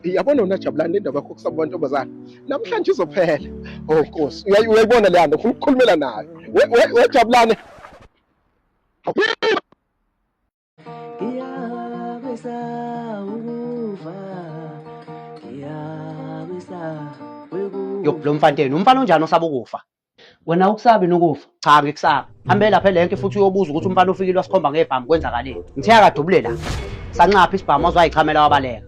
yabona wena jabulani le ndaba yakho kusaba bantombazana namhlanje izophela o oh, nkosi uyayibona leya nto ufuna ukukhulumela nayo wejabulane ngiyabesa ukuva ngiyabesa lo mfanteni umfana onjani osaba ukufa wena ukusabi nokufa cha ngikusabi hambe lapha elenke futhi uyobuza ukuthi umfana ofikile wasikhomba ngebhamu kwenzakaleni ngithe akadubule la sanxapha isibhamu wazwayichamela wabaleka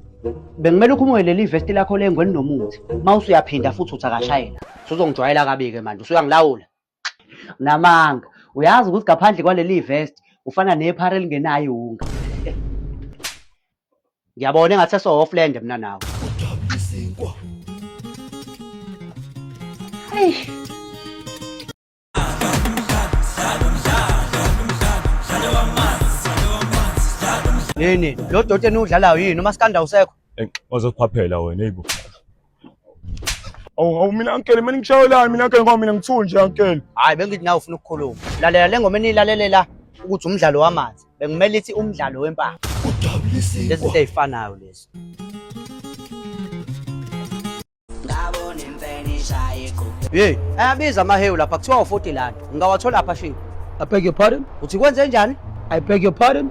bengimele ukhumuke leli vesti lakho lengweni nomuthi uma usuyaphinda futhi uthi akashayela suzongijwayela kabi-ke manje usuyangilawula namanga uyazi ukuthi ngaphandle kwaleli vesti ufana nephara elingenayo iwunga ngiyabona engathi esohofland mina nawe yini lo doti eniwudlalayo yini umaskanda usekho Ey, wazophaphela wena eyibo Awu awu mina uncle mina ngishayelani mina uncle ngoba mina ngithu nje uncle. Hayi bengithi nawe ufuna ukukhuluma. Lalela le ngoma eniyilalelela ukuthi umdlalo wamanzi. Bekumele ithi umdlalo wempama. Lezi zinto ey'fanayo lezi. Hey, ayabiza amahewu lapha kuthiwa u-40 lana. Ngingawathola apha shini. I beg your pardon? Uthi kwenze njani? I beg your pardon?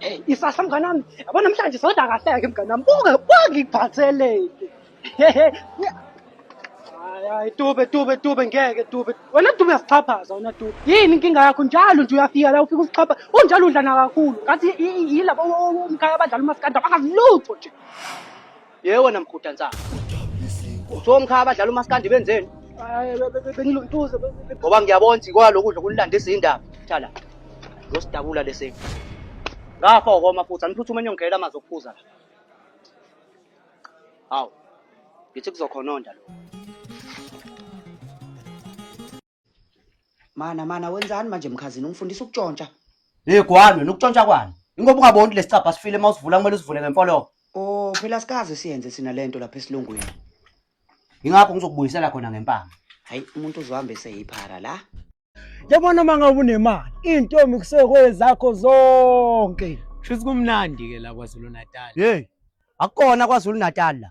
Hey, isasa mngane wami, yabo namhlanje soda kahleke mngane wami. Buke wangiphatheleni. Hayi, hayi tube tube tube ngeke tube. Wena tube uyasixhaphaza wena tube. Yini inkinga yakho njalo nje uyafika la ufika usixhapha. Unjalo udlana kakhulu. Ngathi yilabo umkhaya abadlala umaskanda bakazi lutho nje. Yebo wena mguda nsangu. So mkhaya abadlala umaskandi benzeni? Bengiluntuza ngoba ngiyabona ukuthi kwalokudla kunilanda izindaba. Thala. Losidabula lesi. Ngafa ukoma futhi aniphuthuma enyongela amazi okuphuza la. Hawu. Ngithi kuzokhononda lo. Mana mana wenzani manje mkhazini ungifundisa ukutshontsha. Hey gwani wena ukutshontsha kwani? Ingoba ungaboni ukuthi lesicabha sifile uma usivula kumele usivule ngemfolo. Oh phela sikaze siyenze sina lento lapha esilungwini. Ingakho ngizokubuyisela khona ngempama. Hayi umuntu uzohambe seyiphara la. Yabona uma ngabe unemali, intombi kusekwe zakho zonke. Shuthi kumnandi ke la KwaZulu Natal. Hey. Akukona kwaZulu Natal la.